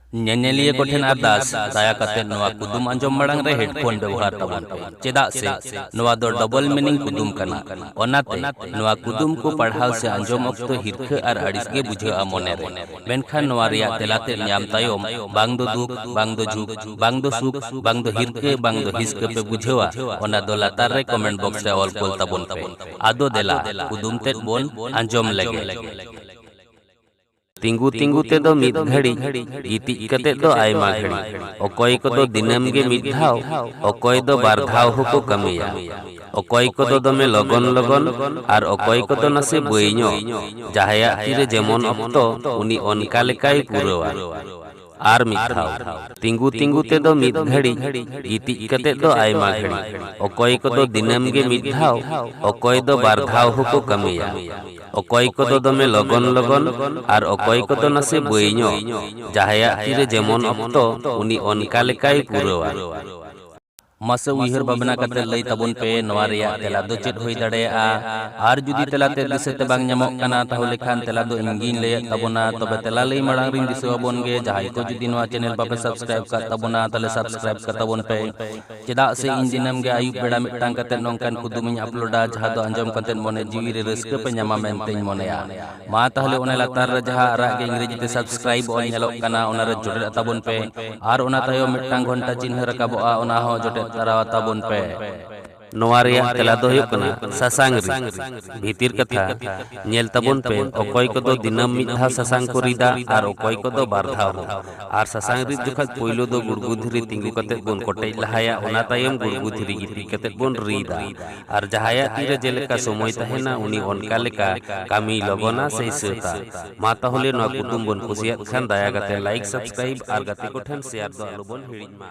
ᱧᱮᱧᱮᱞᱤᱭᱟᱹ ᱠᱚ ᱴᱷᱮᱱ ᱟᱨᱫᱟᱥ, ᱫᱟᱭᱟ ᱠᱟᱛᱮ ᱱᱚᱣᱟ ᱠᱩᱫᱩᱢ ᱟᱸᱡᱚᱢ ᱢᱟᱲᱟᱝ ᱨᱮ ᱦᱮᱰᱯᱷᱳᱱ ᱵᱮᱣᱦᱟᱨ ᱛᱟᱵᱚᱱ ᱯᱮ, ᱪᱮᱫᱟᱜ ᱥᱮ ᱱᱚᱣᱟ ᱫᱚ ᱰᱚᱵᱚᱞ ᱢᱤᱱᱤᱝ ᱠᱩᱫᱩᱢ ᱠᱟᱱᱟ᱾ ᱚᱱᱟᱛᱮ, ᱱᱚᱣᱟ ᱠᱩᱫᱩᱢ ᱠᱚ ᱯᱟᱲᱦᱟᱣ ᱥᱮ ᱟᱸᱡᱚᱢ ᱚᱠᱛᱚ ᱦᱤᱨᱠᱷᱟᱹ ᱟᱨ ᱟᱹᱲᱤᱥ ᱜᱮ ᱵᱩᱡᱷᱟᱹᱜᱼᱟ ᱢᱚᱱᱮ ᱨᱮ᱾ ᱢᱮᱱᱠᱷᱟᱱ ᱱᱚᱣᱟ ᱨᱮᱭᱟᱜ ᱛᱮᱞᱟ ᱛᱮᱫ ᱧᱟᱢ ᱛᱟᱭᱚᱢ ᱵᱟᱝ ᱫᱚ ᱫᱩᱠ, ᱵᱟᱝ ᱫᱚ ᱡᱷᱩᱠ, ᱵᱟᱝ ᱫᱚ ᱥᱩᱠ, ᱵᱟᱝ ᱫᱚ ᱦᱤᱨᱠᱟᱹ, ᱵᱟᱝ ᱫᱚ ᱦᱤᱥᱠᱟᱹ ᱯᱮ ᱵᱩᱡᱷᱟᱹᱣᱟ, ᱚᱱᱟ ᱫᱚ ᱞᱟᱛᱟᱨ ᱨᱮ ᱠᱚᱢᱮᱱᱴ ᱵᱚᱠᱥ ᱨᱮ ᱚᱞ ᱠᱳᱞ ᱛᱟᱵᱚᱱ ᱯᱮ᱾ ᱟᱫᱚ ᱫᱮᱞᱟ, ᱠᱩᱫᱩᱢ ᱛᱮᱫ ᱵᱚᱱ ᱟᱸᱡᱚᱢ ᱞᱮᱜᱮ᱾ ᱛᱤᱸᱜᱩ ᱛᱤᱸᱜᱩ ᱛᱮᱫᱚ ᱢᱤᱫ ᱜᱷᱟᱹᱲᱤᱡ, ᱜᱤᱛᱤᱡ ᱠᱟᱛᱮ ᱫᱚ ᱟᱭᱢᱟ ᱜᱷᱟᱹᱲᱤᱡ᱾ ᱚᱠᱚᱭ ᱠᱚᱫᱚ ᱫᱤᱱᱟᱹᱢ ᱜᱮ ᱢᱤᱫ ᱫᱷᱟᱣ, ᱚᱠᱚᱭ ᱫᱚ ᱵᱟᱨ ᱫᱷᱟᱣ ᱦᱚᱸᱠᱚ ᱠᱟᱹᱢᱤᱭᱟ᱾ ᱚᱠᱚᱭ ᱠᱚᱫᱚ ᱫᱚᱢᱮ ᱞᱚᱜᱚᱱ ᱞᱚᱜᱚᱱ ᱟᱨ ᱚᱠᱚᱭ ᱠᱚᱫᱚ ᱱᱟᱥᱮ ᱵᱟᱹᱭ ᱧᱚᱜ᱾ ᱡᱟᱦᱟᱸᱭᱟᱜ ᱛᱤᱨᱮ ᱡᱮᱢᱚᱱ ᱚᱠᱛᱚ, ᱩᱱᱤ ᱚᱱᱠᱟ ᱞᱮᱠᱟᱭ ᱯᱩᱨᱟᱹᱣᱟ᱾ ᱟᱨ ᱢᱤᱫ ᱫᱷᱟᱣ ᱛᱤᱸᱜᱩ ᱛᱤᱸᱜᱩ ᱛᱮᱫᱚ ᱢᱤᱫ ᱜᱷᱟᱹᱲᱤᱡ ᱜᱤᱛᱤᱡ ᱠᱟᱛᱮ ᱫᱚ ᱟᱭᱢᱟ ᱜᱷᱟᱹᱲᱤᱡ ᱚᱠᱚᱭ ᱠᱚᱫᱚ ᱫᱤᱱᱟᱹᱢ ᱜᱮ ᱢᱤᱫ ᱫᱷᱟᱣ ᱚᱠᱚᱭ ᱫᱚ ᱵᱟᱨ ᱫᱷᱟᱣ ᱦᱚᱸᱠᱚ ᱠᱟᱹᱢᱤᱭᱟ ᱚᱠᱚᱭ ᱠᱚᱫᱚ ᱫᱚᱢᱮ ᱞᱚᱜᱚᱱ ᱞᱚᱜᱚᱱ ᱟᱨ ᱚᱠᱚᱭ ᱠᱚᱫᱚ ᱱᱟᱥᱮ ᱵᱟᱹᱭ ᱧᱚᱜ ᱡᱟᱦᱟᱸᱭᱟᱜ ᱛᱤᱨᱮ ᱡᱮᱢᱚᱱ ᱚᱠᱛᱚ ᱩᱱᱤ ᱚᱱᱠᱟ ᱞᱮᱠᱟᱭ ᱯᱩᱨᱟᱹᱣᱟ ᱢᱟᱥᱮ ᱩᱭᱦᱟᱹᱨ ᱵᱷᱟᱵᱽᱱᱟ ᱠᱟᱛᱮ ᱞᱟᱹᱭ ᱛᱟᱵᱚᱱ ᱯᱮ ᱱᱚᱣᱟ ᱨᱮᱭᱟᱜ ᱛᱮᱞᱟ ᱫᱚ ᱪᱮᱫ ᱦᱩᱭ ᱫᱟᱲᱮᱭᱟᱜᱼᱟ ᱟᱨ ᱡᱩᱫᱤ ᱛᱮᱞᱟ ᱛᱮ ᱫᱤᱥᱟᱹ ᱛᱮ ᱵᱟᱝ ᱧᱟᱢᱚᱜ ᱠᱟᱱᱟ ᱛᱟᱦᱚᱞᱮ ᱠᱷᱟᱱ ᱛᱮᱞᱟ ᱫᱚ ᱤᱧ ᱜᱤᱧ ᱞᱟᱹᱭᱮᱫ ᱛᱟᱵᱚᱱᱟ ᱛᱚᱵᱮ ᱛᱮᱞᱟ ᱞᱟᱹᱭ ᱢᱟᱲᱟᱝ ᱨᱤᱧ ᱫᱤᱥᱟᱹ ᱟᱵᱚᱱ ᱜᱮ ᱡᱟᱦᱟᱸᱭ ᱠᱚ ᱡᱩᱫᱤ ᱱᱚᱣᱟ ᱪᱮᱱᱮᱞ ᱵᱟᱯᱮ ᱥᱟᱵᱥᱠᱨᱟᱭᱤᱵ ᱠᱟᱜ ᱛᱟᱵᱚᱱᱟ ᱛᱟᱦᱚᱞᱮ ᱥᱟᱵᱥᱠᱨᱟᱭᱤᱵ ᱠᱟᱜ ᱛᱟᱵᱚᱱ ᱯᱮ ᱪᱮᱫᱟᱜ ᱥᱮ ᱤᱧ ᱫᱤᱱᱟᱹᱢ ᱜᱮ ᱟᱹᱭᱩᱵ ᱵᱮᱲᱟ ᱢᱤᱫᱴᱟᱝ ᱠᱟᱛᱮ ᱱᱚᱝᱠᱟᱱ ᱠᱩᱫᱩᱢᱤᱧ ᱟᱯᱞᱳᱰᱟ ᱡᱟᱦᱟᱸ ᱫᱚ ᱟᱸᱡᱚᱢ ᱠᱟᱛᱮ ᱢᱚᱱᱮ ᱡᱤᱣᱤ ᱨᱮ ᱨᱟᱹᱥᱠᱟᱹ ᱯᱮ ᱧᱟᱢᱟ ᱢᱮᱱᱛᱮᱧ ᱢᱚᱱᱮᱭᱟ ᱢᱟ ᱛᱟᱦᱚᱞᱮ ᱚᱱᱟ ᱞᱟᱛᱟᱨ ᱨᱮ ᱡᱟᱦᱟᱸ ᱟᱨᱟᱜ ᱜᱮ ᱤᱝᱨᱮᱡᱤ ᱛᱮ ᱥᱟᱵᱥᱠᱨᱟᱭᱤᱵ ᱚᱞ ᱧᱮᱞᱚᱜ ᱠᱟᱱᱟ ᱚᱱᱟ ᱨᱮ ᱡᱚᱴᱮᱫ ᱛᱟᱵᱚᱱ ᱯᱮ ᱟᱨ ᱚᱱᱟ ᱛᱟᱭᱚᱢ ᱢᱤᱫᱴᱟᱝ ᱜᱷᱚᱱᱴᱟ ᱪᱤᱱᱦᱟᱹ ᱨᱟᱠᱟᱵᱚᱜᱼᱟ ᱚᱱᱟ ᱦᱚᱸ ᱡᱚᱴᱮᱫ ᱛᱟᱨᱟ ᱛᱟᱵᱚᱱ ᱯᱮ ᱱᱚᱣᱟ ᱨᱮᱭᱟᱜ ᱛᱮᱞᱟ ᱫᱚ ᱦᱩᱭᱩᱜ ᱠᱟᱱᱟ ᱥᱟᱥᱟᱝ ᱨᱤᱫ ᱵᱷᱤᱛᱤᱨ ᱠᱟᱛᱷᱟ ᱧᱮᱞ ᱛᱟᱵᱚᱱ ᱯᱮ ᱚᱠᱚᱭ ᱠᱚᱫᱚ ᱫᱤᱱᱟᱹᱢ ᱢᱤᱫ ᱫᱷᱟᱣ ᱥᱟᱥᱟᱝ ᱠᱚ ᱨᱤᱫᱟ ᱟᱨ ᱚᱠᱚᱭ ᱠᱚᱫᱚ ᱵᱟᱨ ᱫᱷᱟᱣ ᱦᱚᱸ ᱟᱨ ᱥᱟᱥᱟᱝ ᱨᱤᱫ ᱡᱚᱠᱷᱟᱡ ᱯᱳᱭᱞᱳ ᱫᱚ ᱜᱩᱲᱜᱩ ᱫᱷᱤᱨᱤ ᱛᱤᱸᱜᱩ ᱠᱟᱛᱮ ᱵᱚᱱ ᱠᱚᱴᱮᱡ ᱞᱟᱦᱟᱭᱟ ᱚᱱᱟ ᱛᱟᱭᱚᱢ ᱜᱩᱲᱜᱩ ᱫᱷᱤᱨᱤ ᱜᱤᱛᱤᱡ ᱠᱟᱛᱮ ᱵᱚᱱ ᱨᱤᱫᱟ ᱟᱨ ᱡᱟᱦᱟᱸᱭᱟᱜ ᱛᱤ ᱨᱮ ᱡᱮᱞᱮᱠᱟ ᱥᱚᱢᱚᱭ ᱛᱟᱦᱮᱸᱱᱟ ᱩᱱᱤ ᱚᱱᱠᱟ ᱞᱮᱠᱟ ᱠᱟᱹᱢᱤᱭ ᱞᱚᱜᱚᱱᱟ ᱥᱮᱭ ᱥᱟᱹᱛᱟ᱾ ᱢᱟ ᱛᱟᱦᱚᱞᱮ ᱱᱚᱣᱟ ᱠᱩᱫᱩᱢ ᱵᱚᱱ ᱠᱩᱥᱤᱭᱟᱫ ᱠᱷᱟᱱ ᱫᱟᱭᱟ ᱠᱟᱛᱮ ᱞᱟᱭᱤᱠ ᱥᱟᱵᱥᱠᱨᱟᱭᱤᱵ ᱟᱨ ᱜᱟᱛᱮ ᱠᱚ ᱴᱷᱮᱱ ᱥᱮᱭᱟᱨ ᱫᱚ ᱟᱞᱚ ᱵᱚᱱ ᱦᱤᱲᱤᱧ ᱢᱟ᱾